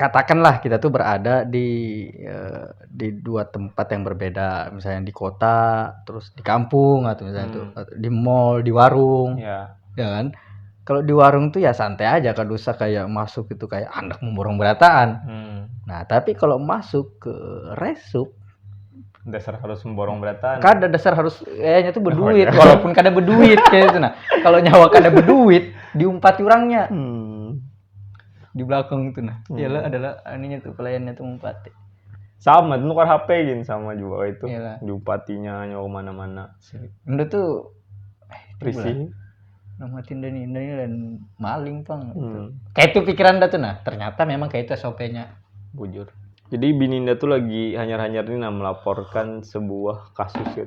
katakanlah kita tuh berada di uh, di dua tempat yang berbeda misalnya di kota terus di kampung atau misalnya hmm. tuh di mall di warung yeah. ya iya kan kalau di warung tuh ya santai aja kalau usah kayak masuk itu kayak anak memborong berataan hmm. nah tapi kalau masuk ke resup dasar harus memborong berataan kada dasar harus kayaknya tuh oh, berduit oh, iya. walaupun kada berduit kayak itu nah kalau nyawa kada berduit diumpati orangnya hmm di belakang itu nah hmm. ialah adalah aninya tuh pelayannya tuh mumpati sama itu nukar HP gin sama juga itu Yalah. diumpatinya nyawa mana-mana Anda tuh eh, risih nama tinda ini ini dan maling pang gitu. hmm. kayak itu pikiran dah tuh nah ternyata memang kayak itu SOP-nya bujur jadi Bininda tuh lagi hanyar-hanyar ini nah melaporkan sebuah kasus ya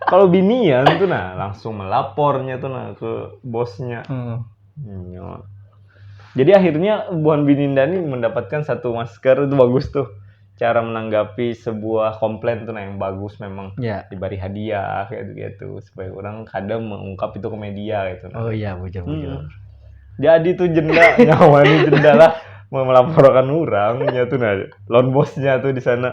Kalau binian tuh nah langsung melapornya tuh nah ke bosnya. Hmm. Iya. Jadi akhirnya buhan bininda ini mendapatkan satu masker itu bagus tuh cara menanggapi sebuah komplain tuh nah yang bagus memang Ya. diberi hadiah kayak gitu supaya orang kadang mengungkap itu ke media gitu nah. Oh iya, bujur Hmm. bujur. Jadi tuh jenda nyawa ini jenda lah mau melaporkan orang nya tuh nah lawan bosnya tuh di sana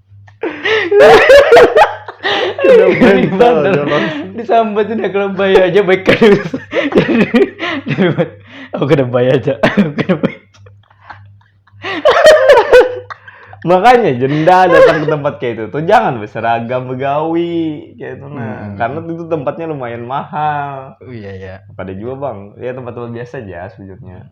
Kena mental jalan. Disambat udah kena bayar aja baik kan. Aku kena bayar aja. Aku kena bayar. Makanya jenda datang ke tempat kayak itu tuh jangan berseragam begawi kayak itu nah. Hmm. Karena itu tempatnya lumayan mahal. Oh iya ya. Pada juga bang, ya tempat-tempat biasa aja sebenarnya.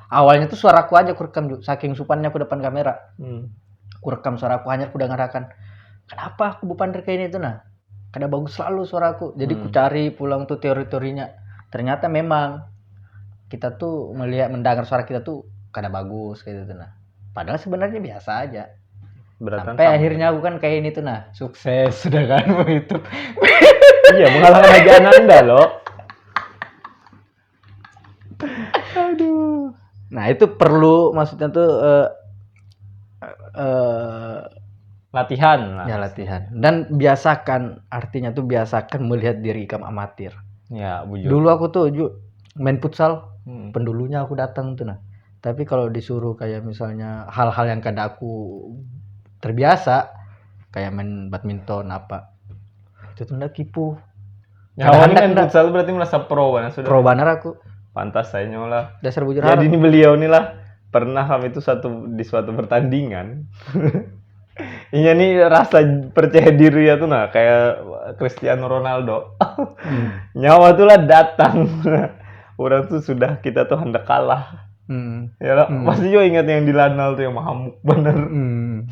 awalnya tuh suara aku aja aku rekam Ju. saking supannya aku depan kamera hmm. aku rekam suara aku hanya aku dengarkan kenapa aku bupander kayak ini tuh nah kada bagus selalu suara aku jadi hmm. ku cari pulang tuh teori-teorinya ternyata memang kita tuh melihat mendengar suara kita tuh kada bagus kayak gitu nah padahal sebenarnya biasa aja Beratan sampai akhirnya aku kan kayak ini tuh nah sukses sudah kan begitu iya mengalahkan aja Ananda loh Aduh. Nah itu perlu maksudnya tuh uh, uh, latihan lah. ya latihan dan biasakan artinya tuh biasakan melihat diri ikam amatir ya bujur. dulu aku tuh ju, main futsal hmm. pendulunya aku datang tuh nah tapi kalau disuruh kayak misalnya hal-hal yang kada aku terbiasa kayak main badminton apa itu tuh ndak kipu Nggak Kawan handak, main nggak. futsal berarti merasa pro banget sudah. Pro banar aku. Pantas saya nyolah. Dasar bujur Jadi harap. ini beliau nih lah pernah kami itu satu di suatu pertandingan. Iya nih rasa percaya diri ya tuh nah kayak Cristiano Ronaldo. Nyawa tuh lah datang. Orang tuh sudah kita tuh hendak kalah. Hmm. Ya lah, masih juga ingat yang di Lanal tuh yang mahamuk bener. Hmm.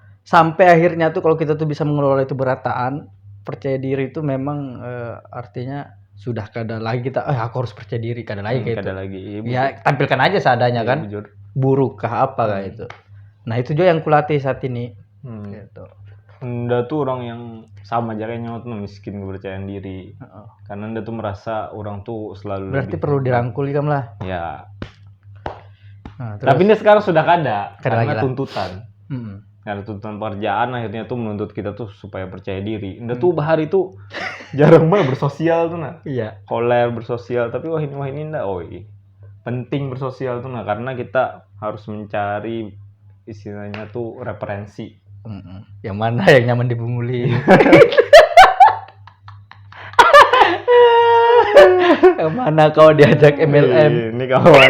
sampai akhirnya tuh kalau kita tuh bisa mengelola itu berataan percaya diri itu memang e, artinya sudah kada lagi kita eh aku harus percaya diri kada lagi hmm, kayak kada itu. lagi iya, ya tampilkan aja seadanya iya, kan bujur. buruk kah apa hmm. kayak itu nah itu juga yang kulatih saat ini hmm. gitu Nda tuh orang yang sama aja kayak nyawa tuh miskin kepercayaan diri. Uh -oh. Karena Nda tuh merasa orang tuh selalu Berarti lebih... perlu dirangkul ikam lah. Ya. Nah, terus... Tapi ini sekarang sudah kada, kada karena lagi tuntutan. Hmm. Karena tuntutan pekerjaan akhirnya tuh menuntut kita tuh supaya percaya diri. Udah tuh bahari tuh jarang banget bersosial tuh nah. Iya. Koler bersosial tapi wah ini wah ini ndak oi. Penting bersosial tuh nah karena kita harus mencari istilahnya tuh referensi. Mm-mm. Yang mana yang nyaman dipunguli? yang mana kau diajak MLM? Ini kawan.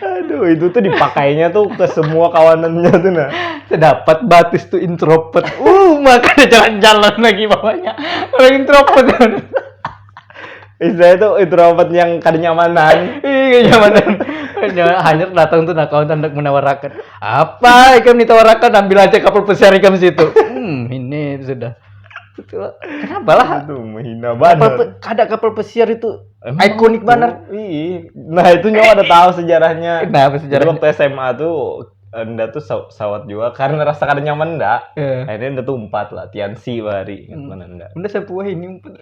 Aduh, itu tuh dipakainya tuh ke semua kawanannya tuh nah. Sedapat batis tuh introvert. Uh, makanya jalan-jalan lagi bawahnya. Orang introvert. Istilahnya tuh introvert yang kada nyamanan. Iya, nyamanan. Hanya datang tuh nah kawan hendak menawarakan. Apa ikam ditawarakan? Ambil aja kapal pesiar ikam situ. Hmm, ini sudah. Kenapa lah? Itu menghina banget. Kapal, kada kapal pesiar itu Emang Ikonik itu? banget. Ih, nah itu nyawa ada tahu sejarahnya. Kenapa sejarah? Jadi waktu SMA tuh Enda tuh saw- sawat juga karena rasa kada nyaman Enda. Eh. Akhirnya Enda tuh umpat lah, Tiansi bahari ingat mana Enda. Bunda sepuh ini umpet.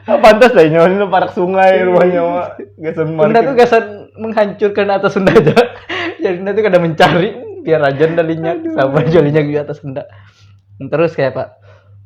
Ah, Pantas lah nyawa ini parak sungai rumah nyawa. Gasan Bunda parkir. tuh gasan menghancurkan atas Sunda aja. Jadi Bunda tuh kada mencari biar aja Bunda linyak sama aja linyak di atas Sunda. Terus kayak Pak,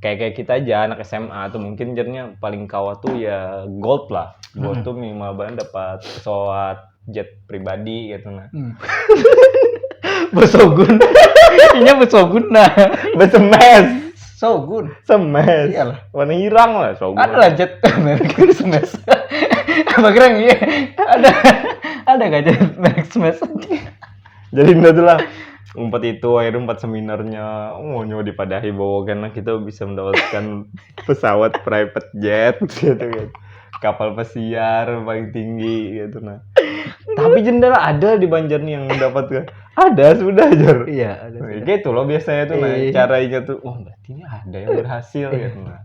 kayak kayak kita aja anak SMA tuh mungkin jadinya paling kawah tuh ya gold lah gold hmm. tuh minimal banget dapat pesawat jet pribadi gitu nah hmm. besogun ini besogun nah besemes Sogun. Semes. Iyalah. Warna hirang lah Sogun. Ada lah jet merek Semes. Apa kira iya? Ada ada gak jet merek Semes? jadi itu adalah empat itu akhirnya empat seminarnya oh nyawa dipadahi bahwa karena kita bisa mendapatkan pesawat private jet gitu kan kapal pesiar paling tinggi gitu nah tapi jendela ada di Banjar nih yang mendapatkan ada sudah aja iya ada gitu loh biasanya tuh nah, iya. cara ingat tuh oh berarti ini ada yang berhasil gitu nah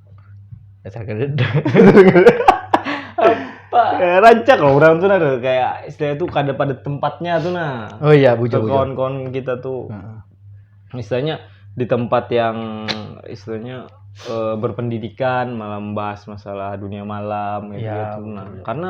dasar kededa apa Eh, rancak loh orang tuh nah ada kayak istilahnya tuh kada pada tempatnya tuh nah. oh iya bujur Tuh, bujur kawan-kawan kita tuh Heeh. istilahnya di tempat yang istilahnya eh, berpendidikan malah membahas masalah dunia malam kayak Iya, gitu nah. Karena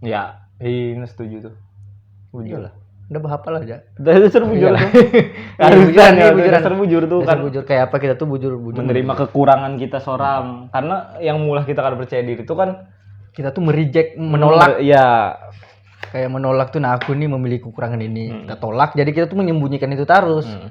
ya ini setuju tuh bujur lah udah berapa lah aja dari dasar bujur tuh harusan ya dari dasar bujur tuh kan bujur kayak apa kita tuh bujur bujur menerima kekurangan kita seorang karena yang mulah kita kan percaya diri tuh kan kita tuh merijek menolak ya kayak menolak tuh nah aku nih memiliki kekurangan ini hmm. kita tolak jadi kita tuh menyembunyikan itu terus hmm.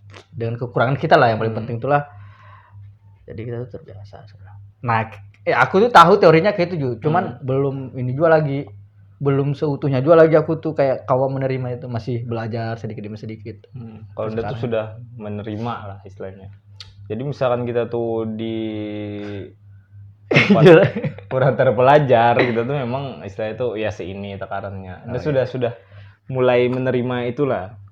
dengan kekurangan kita lah yang paling hmm. penting itulah jadi kita tuh terbiasa nah eh aku tuh tahu teorinya kayak itu cuman hmm. belum ini juga lagi belum seutuhnya juga lagi aku tuh kayak kawa menerima itu masih belajar sedikit demi sedikit hmm. kalau udah tuh sudah menerima lah istilahnya jadi misalkan kita tuh di kurang terpelajar gitu tuh memang istilah itu ya seini tekarannya. Nah, oh, sudah iya. sudah mulai menerima itulah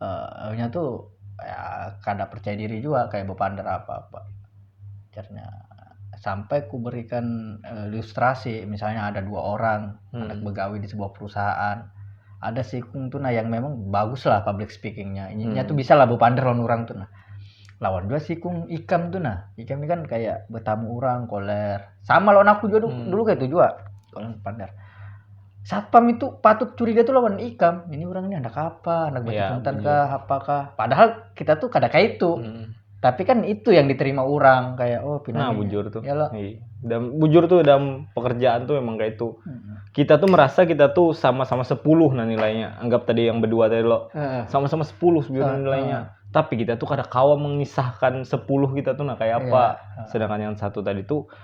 uh, nya tuh ya kada percaya diri juga kayak bepander apa-apa akhirnya sampai ku berikan uh, ilustrasi misalnya ada dua orang hmm. anak begawi di sebuah perusahaan ada si Kung tuh nah yang memang bagus lah public speakingnya ini hmm. tuh bisa lah bepander lawan orang tuh nah lawan dua si Kung Ikam tuh nah Ikam ini kan kayak bertamu orang koler sama lawan aku juga dulu, hmm. dulu kayak itu juga kalau bepander satpam itu patut curiga tuh lawan ikam ini orang ini anak apa anak iya, batu yeah, kah apakah padahal kita tuh kada kayak itu hmm. tapi kan itu yang diterima orang kayak oh pindah nah bujur tuh ya lo iya. dan bujur tuh dalam pekerjaan tuh memang kayak itu hmm. kita tuh merasa kita tuh sama-sama sepuluh nah nilainya anggap tadi yang berdua tadi lo sama-sama sepuluh sebenarnya nilainya tapi kita tuh kada kawa mengisahkan sepuluh kita tuh nah kayak apa yeah. sedangkan yang satu tadi tuh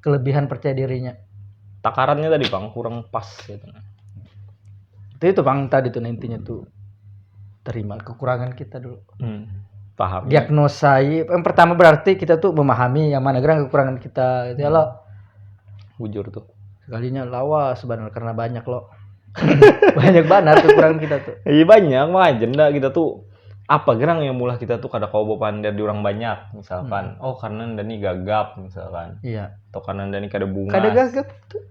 kelebihan percaya dirinya takarannya tadi bang kurang pas gitu nah. itu itu bang tadi tuh intinya tuh terima kekurangan kita dulu hmm, paham diagnosa yang pertama berarti kita tuh memahami yang mana gerak kekurangan kita gitu ya lo bujur tuh sekalinya lawa sebenarnya karena banyak lo banyak banget kekurangan kita tuh iya banyak mah agenda kita tuh apa gerang yang mulah kita tuh kada kawa bapander di orang banyak misalkan hmm. oh karena anda nih gagap misalkan iya atau karena anda nih kada bunga kada gagap tuh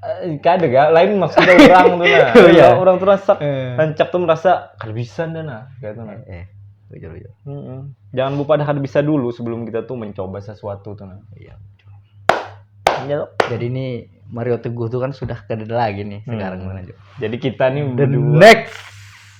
eh, kada gak lain maksudnya orang tuh nah oh, iya. orang tuh rasa eh. rancak tuh merasa kada bisa anda nah kayak tuh nah eh, betul betul mm -mm. jangan lupa ada kada bisa dulu sebelum kita tuh mencoba sesuatu tuh nah iya iya jadi ini Mario Teguh tuh kan sudah kada lagi nih hmm. sekarang hmm. Jadi kita nih the berdua. next